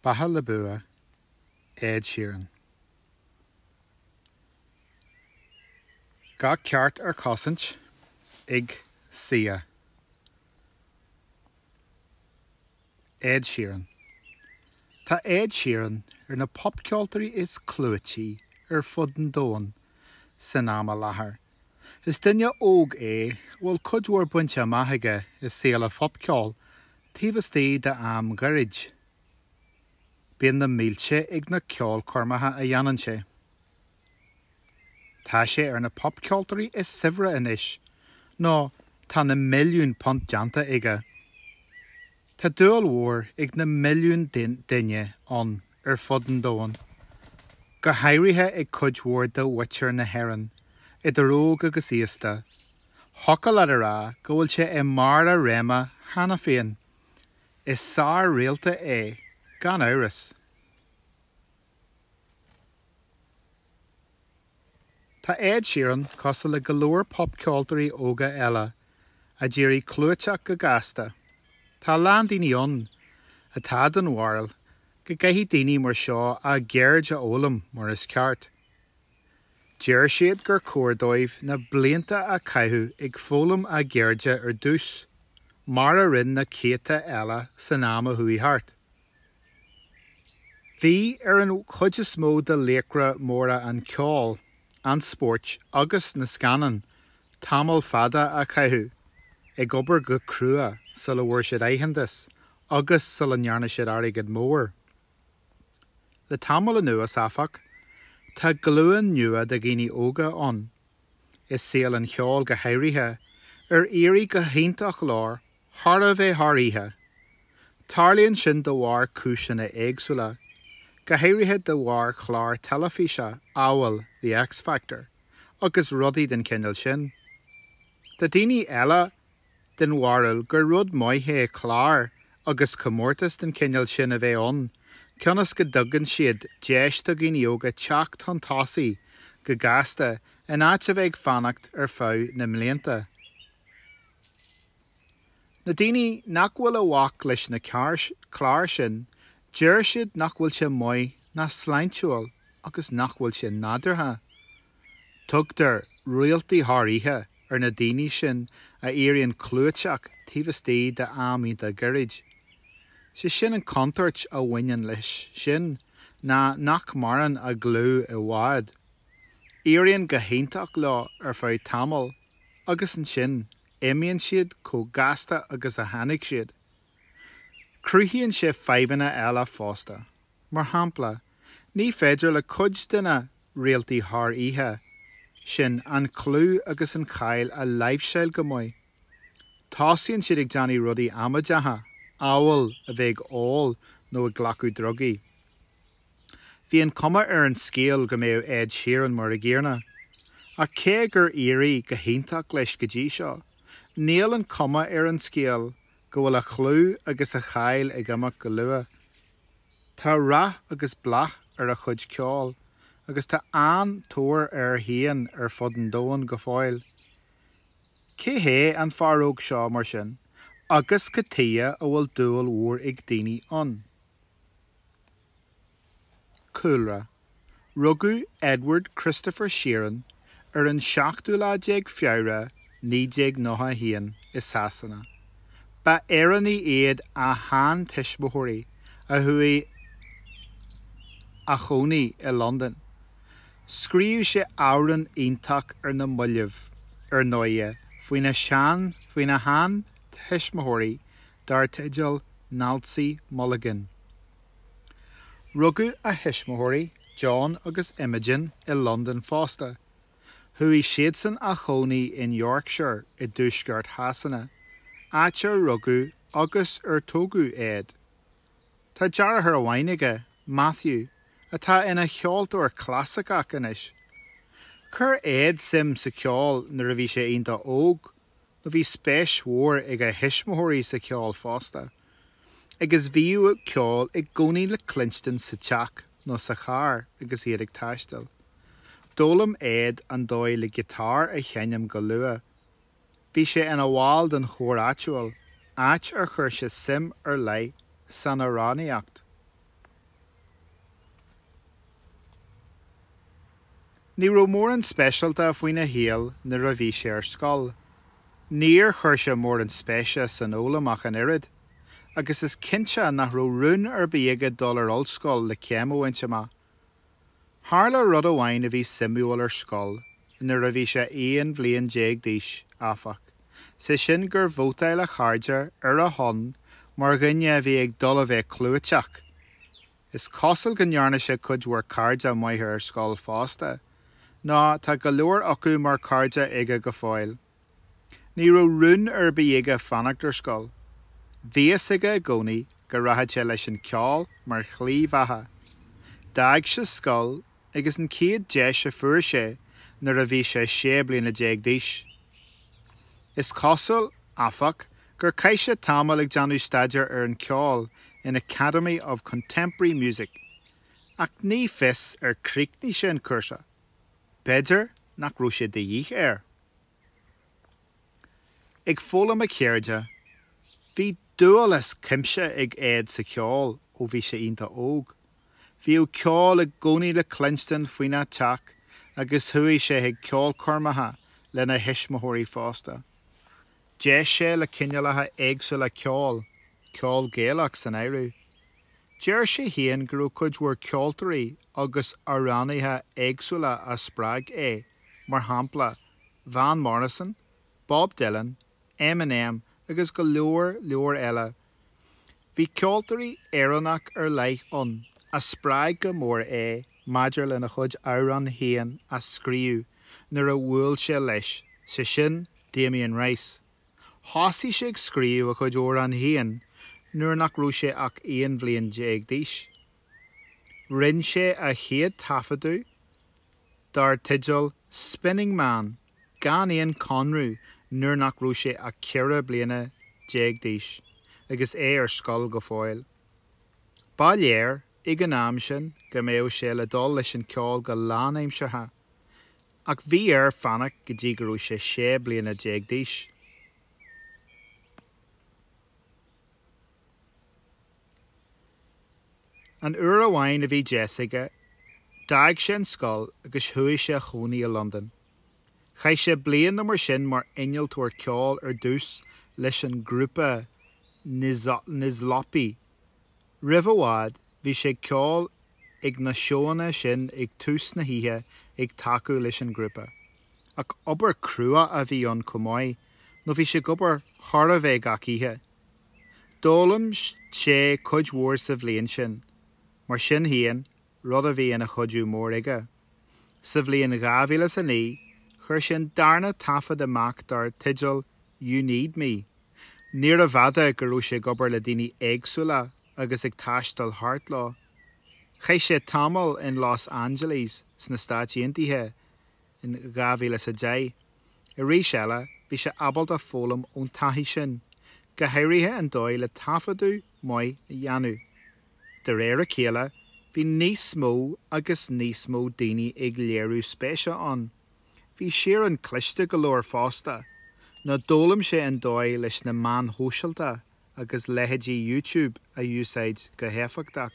Beatha le bua, Ed Sheeran. Gach ceart ar cosaint ag CCEA. Ed Sheeran Tá Ed Sheeran ar na popcheoltóirí is clúití ar fud an domhain san am i láthair. Is duine óg é a bhfuil cuid mhór bainte amach aige i saol an phopcheoil taobh istigh d'am gairid. Bíonn na mílte ag na ceolchoirmeacha a dhéanann sé. Tá sé ar na popcheoltóirí is saibhre anois, nó tá na milliúin punt déanta aige. Tá dúil mhór ag na milliúin duine ann ar fud an domhain, go háirithe ag cuid mhór de mhuintir na hÉireann, idir óg agus aosta. Thiocfadh leat a rá go bhfuil sé i mbarr a réime cheana féin. Is sár-réalta é, gan amhras. Tá Ed Sheeran cosúil le go leor popcheoltóirí óga eile a d'éirigh clúiteach go gasta. Tá a lán daoine ann atá den bharúil go gcaithfidh daoine mar seo a gceird a fhoghlaim mar is ceart. Deir siad gur chóir dóibh na blianta a chaitheamh ag foghlaim a gceirde ar dtús, mar a rinne na céadta eile san am a chuaigh thart. Bhí ar an chuid is mó de laochra móra an cheoil, an spóirt agus na scannán tamall fada a chaitheamh ag obair go crua sula bhfuair siad aitheantas agus sula ndearna siad airgead mór. Le tamall anuas, áfach, tá glúin nua de dhaoine óga ann, i saol an cheoil go háirithe, ar éirigh go hiontach leo Chóir a bheith thar oíche. Tarlaíonn sin de bharr cúiseanna éagsúla, go háirithe de bharr chláir teilifíse amhail The X Factor agus rudaí den chineál sin. Tá daoine eile den bharúil gur rud maith é cláir agus comórtais den chineál sin a bheith ann cionn is go dtugann siad deis do dhaoine óga teacht chun tosaigh go gasta in áit a bheith ag fanacht ar feadh na mblianta. Na daoine nach bhfuil i bhfách leis na cláir sin, deir siad nach bhfuil sé maith ná sláintiúil agus nach bhfuil sé nádúrtha. Tugtar réaltaí thar oíche ar na daoine sin a éiríonn clúiteach taobh istigh d'am iontach gairid. Sé sin an chontúirt a bhaineann leis sin ná nach maireann a gclú i bhfad. Éiríonn go hiontach leo ar feadh tamaill. agus ansin imíonn siad chomh gasta agus a tháinig siad. Cruthaíonn sé fadhbanna eile fosta, mar shampla, ní féidir le cuid de na 'réaltaí thar oíche' sin an clú agus an cháil a láimhseáil go maith. Tosaíonn siad ag déanamh rudaí amaideacha, amhail a bheith ag ól nó ag glacadh drugaí. Bhí an chuma ar an scéal go mbeadh Ed Sheeran mar an gcéanna. Ach cé gur éirigh go hiontach leis go dtí seo, níl an chuma ar an scéal go bhfuil a chlú agus a cháil ag imeacht go luath. Tá rath agus bláth ar a chuid ceoil agus tá an-tóir air féin ar fud an domhain go fóill. Cé hé an fear óg seo, mar sin, agus cad tuighe a bhfuil dúil mhór ag daoine ann? Cúlra, Rugadh Edward Christopher Sheeran ar an seachtú lá déag Feabhra 1991 i Sasana. Ba Éireannaigh iad a shean-tuismitheoirí a chuaigh a chónaí i Londain. Scríobh sé amhrán iontach ar na mallaibh, ar ndóigh, faoina shean-tuismitheoirí dar teideal Nancy Mulligan. Rugadh a thuismitheoirí, John agus Imogen, i Londain fosta. Chuaigh siadsan a chónaí in Yorkshire i dtuaisceart Shasana, áit ar rugadh agus ar tógadh Ed. Tá deartháir amháin aige, Matthew, atá ina cheoltóir clasaiceach anois. Chuir Ed suim sa cheol nuair a bhí sé iontach óg. nó bhí spéis mhór ag a thuismitheoirí sa cheol fosta, agus bhíodh ceol i gcónaí le cluinstin sa teach nó sa charr agus iad ag taisteal. D'fhoghlaim Ed an dóigh le giotár a sheinm go luath. Bhí sé ina bhall den chór áitiúil, áit ar chuir sé suim ar leith san amhránaíocht. Ní raibh mórán speisialta faoina shaol nuair a bhí sé ar scoil. Níor chuir sé mórán spéise san fhoghlaim ach an oiread, agus is cinnte nach raibh rún ar bith aige dul ar ollscoil le céim a bhaint amach. Tharla rud amháin a bhí suimiúil ar scoil nuair a bhí sé aon bhliain déag d'aois, áfach, sé sin gur vótáil a chairde ar a shon mar dhuine a bhí ag dul a bheith clúiteach. Is cosúil go ndearna sé cuid mhór cairde maithe ar scoil fosta, nó tá go leor acu mar chairde aige go fóill. Ní raibh rún ar bith aige fanacht ar scoil. Bhí a fhios aige i gcónaí go rachadh sé leis an ceol mar shlí bheatha. D'fhág sé scoil ag an chéad deis a fuair sé nuair a bhí sé sé bliana déag d'aois. Is cosúil, áfach, gur chaith sé tamall ag déanamh staidéir ar an cheol in Academy of Contemporary Music, ach ní fios ar chríochnaigh sé an cúrsa. B'fhéidir nach raibh sé de dhíth air. Ag foghlaim a cheirde, bhí dúil as cuimse ag Ed sa cheol ó bhí sé iontach óg. Bhíodh ceol i gcónaí le cluinstin faoin teach agus chuaigh sé chuig ceolchoirmeacha lena thuismitheoirí fosta. D'éist sé le cineálacha éagsúla ceoil, ceol Gaelach san áireamh. Deir sé féin go raibh cuid mhór ceoltóirí agus amhránaithe éagsúla a spreag é, mar shampla, Van Morrison, Bob Dylan, Eminem agus go leor leor eile, Bhí ceoltóir Éireannach ar leith ann a spreag go mór é maidir lena chuid amhrán féin a scríobh nuair a bhuail sé leis, sé sin Damien Rice. Thosaigh sé ag scríobh a chuid amhrán féin nuair nach raibh sé ach aon bhliain déag d'aois. Rinne sé a chéad taifeadadh dar teideal Spinning Man. gan aon chonradh nuair nach raibh sé ach ceithre bliana déag d'aois agus é ar scoil go fóill. Ba léir ag an am sin go mbeadh sé ag dul leis an cheol go lánaimseartha, ach bhí air fanacht go dtí go raibh sé sé bliana déag d'aois. Aon uair amháin a bhí deis aige, d'fhág sé an scoil agus chuaigh sé a chónaí i Londain. Chaith sé bliain nó mar sin mar innealtóir ceoil ar dtús leis an ghrúpa Nizlopi. Roimh i bhfad, bhí sé ag ceol ag na seóanna sin ag tús na hoíche ag tacú leis an ghrúpa. Ach obair crua a bhí ann chomh maith nó bhí sé ag obair chóir a bheith gach oíche. D'fhoghlaim sé cuid mhór sa bhliain sin, mar sin féin, rud a bhí ina chuidiú mór aige. Sa bhliain 2000 is a naoi, chuir sé an darna taifead amach dar teideal You Need Me. Níorbh fhada go raibh sé ag obair le daoine éagsúla agus ag taisteal thart leo. Chaith sé tamall in Los Angeles sna Stáit Aontaithe in 2010. Arís eile, bhí sé ábalta foghlaim ón taithí sin, go háirithe an dóigh le taifeadadh maith a dhéanamh. De réir a chéile, bhí níos mó agus níos mó daoine ag léiriú spéise ann. Bhí Sheeran cliste go leor fosta, nó d'fhoghlaim sé an dóigh leis na meáin shóisialta agus leithéidí YouTube a úsáid go héifeachtach.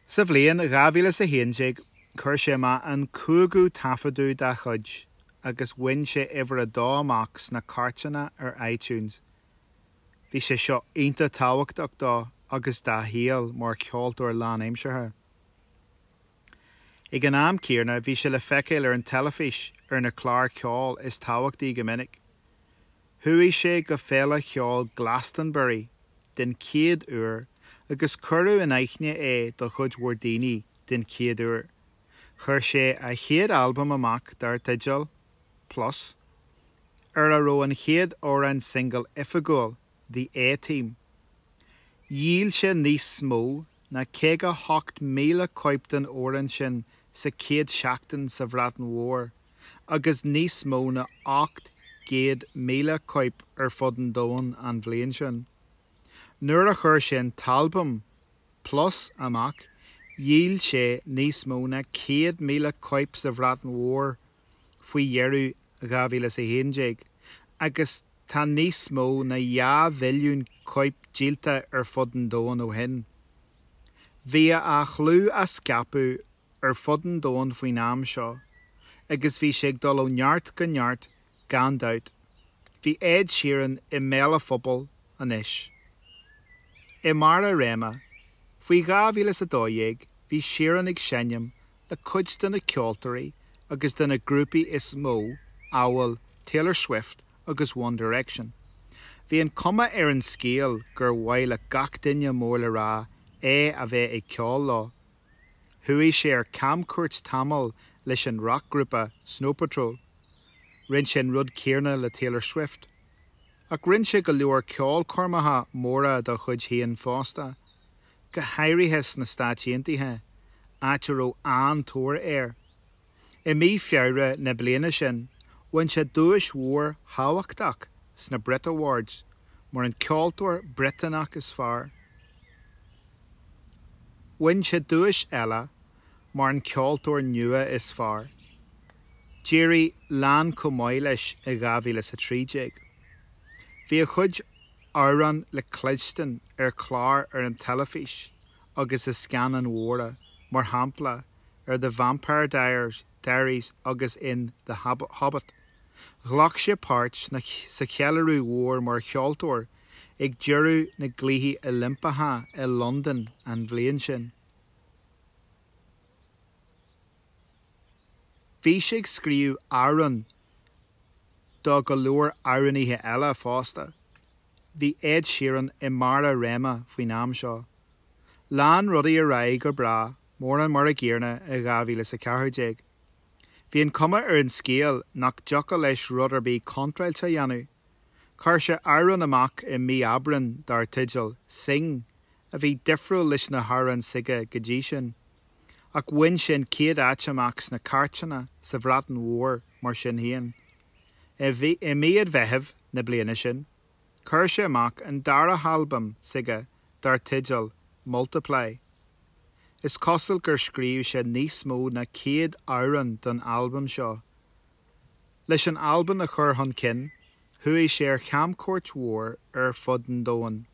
Sa bhliain 2011, chuir sé amach an cúigiú taifeadadh dá chuid agus bhain sé uimhir a dó amach sna cairteanna ar iTunes. Bhí sé seo iontach tábhachtach dó agus dá shaol mar cheoltóir lánaimseartha. Ag an am céanna, bhí sé le feiceáil ar an teilifís ar na cláir ceoil is tábhachtaí go minic. Chuaigh sé go Féile Cheoil Glastonbury den chéad uair agus cuireadh in aithne é do chuid mhór daoine den chéad uair. Chuir sé a chéad albam amach dar teideal Plus, ar a raibh an chéad amhrán singil oifigiúil, The A-Team. Dhíol sé níos mó ná 58,000 cóip den amhrán sin sa chéad seachtain sa Bhreatain Mhór. agus níos mó ná 800,000 cóip ar fud an domhain an bhliain sin. Nuair a chuir sé an t-albam Plus amach, dhíol sé níos mó ná 100,000 cóip sa Bhreatain Mhór faoi dheireadh 2011, agus tá níos mó ná dhá mhilliún cóip díolta ar fud an domhain ó shin. Bhí a chlú á scaipeadh ar fud an domhain faoin am seo, agus bhí sé ag dul ó neart go neart gan dabht. Bhí Ed Sheeran i mbéal an phobail anois. I mbarr a réime, faoi 2012, bhí Sheeran ag seinm le cuid de na ceoltóirí agus de na grúpaí is mó, amhail Taylor Swift agus One Direction. Bhí an cuma ar an scéal gur mhaith le gach duine mór le rá é a bheith ag ceol leo, Chuaigh sé ar camchuairt tamall leis an racghrúpa Snow Patrol. Rinne sé an rud céarna le Taylor Swift. Ach rinne sé go leor ceolchoirmeacha móra dá chuid féin fosta, go háirithe sna Stáit Aontaithe, áit a raibh an-tóir air. I mí Feabhra na bliana sin, bhain sé duais mhór thábhachtach sna Brit Awards mar an ceoltóir Briotanach is fearr. Bhain sé duais eile mar an ceoltóir nua is fearr. D'éirigh lán chomh maith leis i 2013. Bhí a chuid amhrán le cloisteáil ar chláir ar an teilifís agus i scannáin mhóra, mar shampla, ar The Vampire Diaries Diaries agus in The Hobbit. Ghlac sé páirt sa cheiliúradh mhór mar cheoltóir ag deireadh na gCluichí Oilimpeacha i Londain an bhliain sin. Bhí sé ag scríobh amhrán do go leor amhránaithe eile fosta. Bhí Ed Sheeran i mbarr a réime faoin am seo. Lean rudaí ar aghaidh go breá mórán mar an gcéanna i 2014. Bhí an chuma ar an scéal nach dtiocfadh leis rud ar bith contráilte a dhéanamh. Chuir sé amhrán amach i mí Aibreán dar teideal 'Sing' a bhí difriúil leis na hamhráin s'aige go dtí sin. Ach bhain sé an chéad áit amach sna cairteanna sa Bhreatain Mhór mar sin féin. I mí an Mheithimh na bliana sin. Chuir sé amach an dara halbam s'aige dar teideal Multiply. Is cosúil gur scríobh sé níos mó ná céad amhrán don albam seo. Leis an albam a chur chun cinn chuaigh sé ar chamchuairt mhór ar fud an domhain.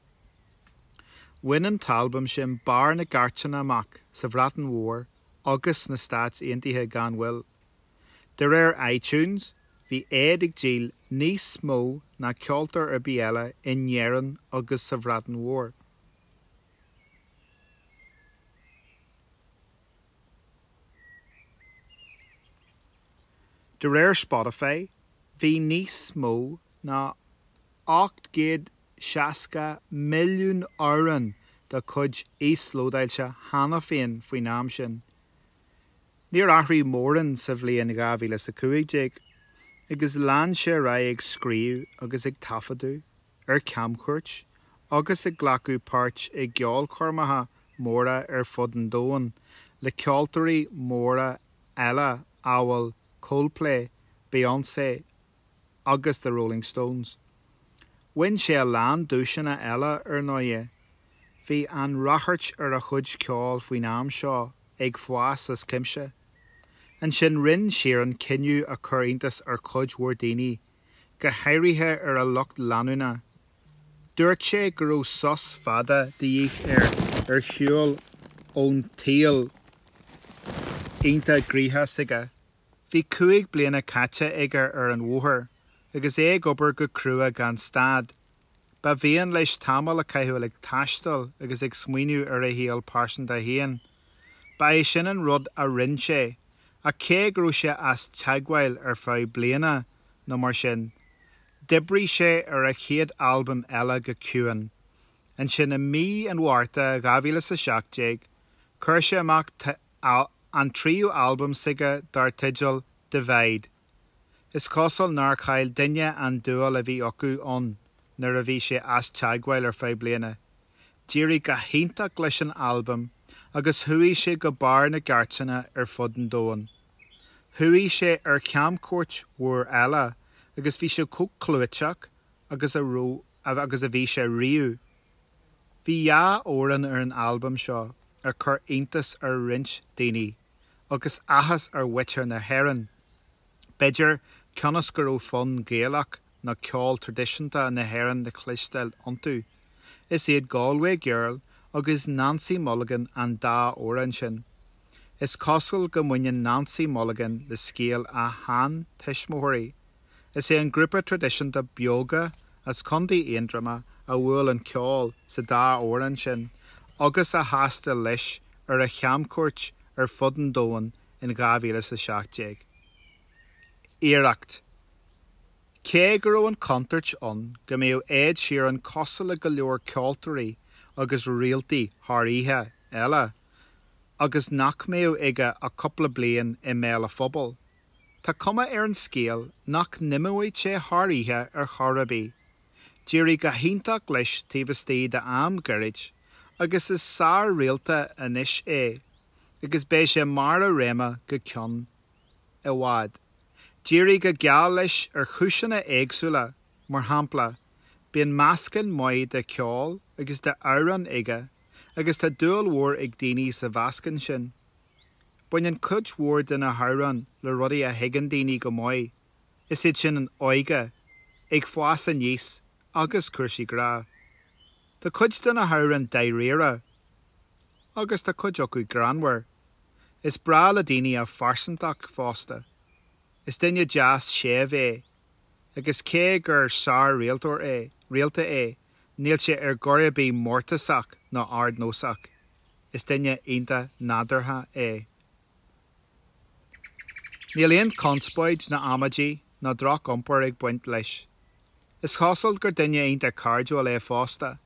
Bhain an t-albam sin barr na gcairteanna amach sa Bhreatain Mhór agus sna Stáit Aontaithe gan mhoill. De réir iTunes, bhí Ed ag díol níos mó ná ceoltóir ar bith eile in Éirinn agus sa Bhreatain Mhór. De réir Spotify, bhí níos mó ná 860 milliún amhrán dá chuid íoslódáilte cheana féin faoin am sin. Níor athraigh mórán sa bhliain dhá mhíle is a cúig déag, agus lean sé ar aghaidh ag scríobh agus ag taifeadadh, ar camchuairt, agus ag glacadh páirt i gceolchoirmeacha móra ar fud an domhain le ceoltóirí móra eile amhail Coldplay, Beyoncé, agus The Rolling Stones. Bhain sé a lán duaiseanna eile, ar ndóighe. Bhí an ráchairt ar a chuid ceoil faoin am seo, ag fás as cuimse. Ansin rinn Sheeran cinneadh a chuir iontas ar chuid mhór daoine, go háirithe ar a lucht leanúna. Dúirt sé go raibh sos fada de dhíth air ar shiúl ón tsaol iontach gnoitheach s'aige. Bhí cúig bliana caite aige ar an bhóthar agus é ag obair go crua gan stad. Ba mhian leis tamall a chaitheamh ag taisteal agus ag smaoineamh ar a shaol pearsanta féin. Ba é sin an rud a rinn sé, ach cé go raibh sé as teagmháil ar feadh bliana nó mar sin, d'oibrigh sé ar a chéad albam eile go ciúin. Ansin i mí an Mhárta 2017, chuir sé amach an tríú albam s'aige dar teideal Divide. Is cosúil nár chaill daoine an dúil a bhí acu ann nuair a bhí sé as teagmháil ar feadh bliana. D'éirigh go hiontach leis an albam agus chuaigh sé go barr na gcairteanna ar fud an domhain. Chuaigh sé ar chamchuairt mhór eile agus bhí sé chomh clúiteach agus a raibh agus a bhí sé riamh. Bhí dhá amhrán ar an albam seo a chuir iontas ar roinnt daoine, agus áthas ar mhuintir na hÉireann, b'fhéidir, cionn is go raibh fonn Gaelach nó ceol traidisiúnta na hÉireann le cloisteáil iontu. Is iad Galway Girl agus Nancy Mulligan an dá amhrán sin. Is cosúil go mbaineann Nancy Mulligan le scéal a sheantuismitheoirí. Is é an grúpa traidisiúnta Beoga as Contae Aontroma a bhuail an ceol sa dá amhrán sin agus a thaistil leis ar a chamchuairt ar fud an domhain in 2017. Iarracht! Cé go raibh an chontúirt ann go mbeadh Ed Sheeran cosúil le go leor ceoltóirí agus réaltaí thar oíche eile agus nach mbeadh aige ach cúpla bliain i mbéal an phobail, Tá cuma ar an scéal nach n-imeoidh sé thar oíche ar chor ar bith. D'éirigh go hiontach leis taobh istigh d'am gairid agus is sár-réalta anois é agus beidh sé i mbarr a réime go ceann i bhfad. D'éirigh go geal leis ar chúiseanna éagsúla, mar shampla, bíonn meascán maith de cheol agus d'amhráin aige agus tá dúil mhór ag daoine sa mheascán sin. Baineann cuid mhór de na hamhráin le rudaí a thuigeann daoine go maith, is iad sin an óige, ag fás aníos agus cúrsaí grá. Tá cuid de na hamhráin dáiríre agus tá cuid acu greannmhar. Is breá le daoine a phearsantacht fosta. Is duine deas séimh é agus cé gur sár-réalta é, níl sé ar chor ar bith mórtasach ná ardnósach. is duine iontach nádúrtha é. Níl aon conspóid ná amaidí ná droch-iompar ag baint leis. Is cosúil gur duine iontach cairdiúil é fosta,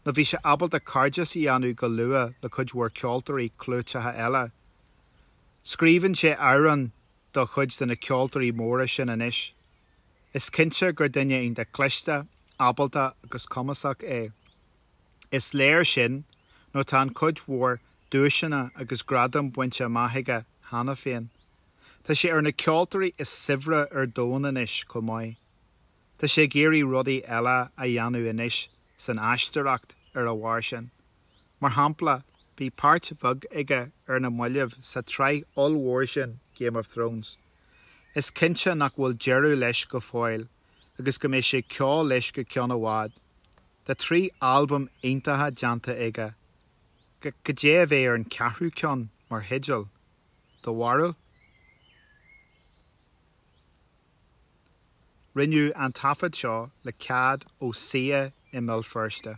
nó bhí sé ábalta cairdeas a dhéanamh go luath le cuid mhór ceoltóirí clúiteacha eile. Scríobhann sé amhráin do chuid de na ceoltóirí móra sin anois. Is cinnte gur duine iontach cliste, ábalta agus cumasach é. Is léir sin nó tá an-chuid mhór duaiseanna agus gradam bainte amach aige cheana féin. Tá sé ar na ceoltóirí is saibhre ar domhan anois chomh maith. Tá sé ag iarraidh rudaí eile a dhéanamh anois san aisteoireacht ar a bharr sin. Mar shampla, bhí páirt bheag aige ar na mallaibh sa tsraith ollmhór sin Game of Thrones. Is cinnte nach bhfuil deireadh leis go fóill agus go mbeidh sé ag ceol leis go ceann i bhfad. Tá trí albam iontacha déanta aige. Cad é a bheidh ar an cheathrú ceann mar theideal, do bharúil? Rinneadh an taifead seo le cead ó CCEA i mBéal Feirste.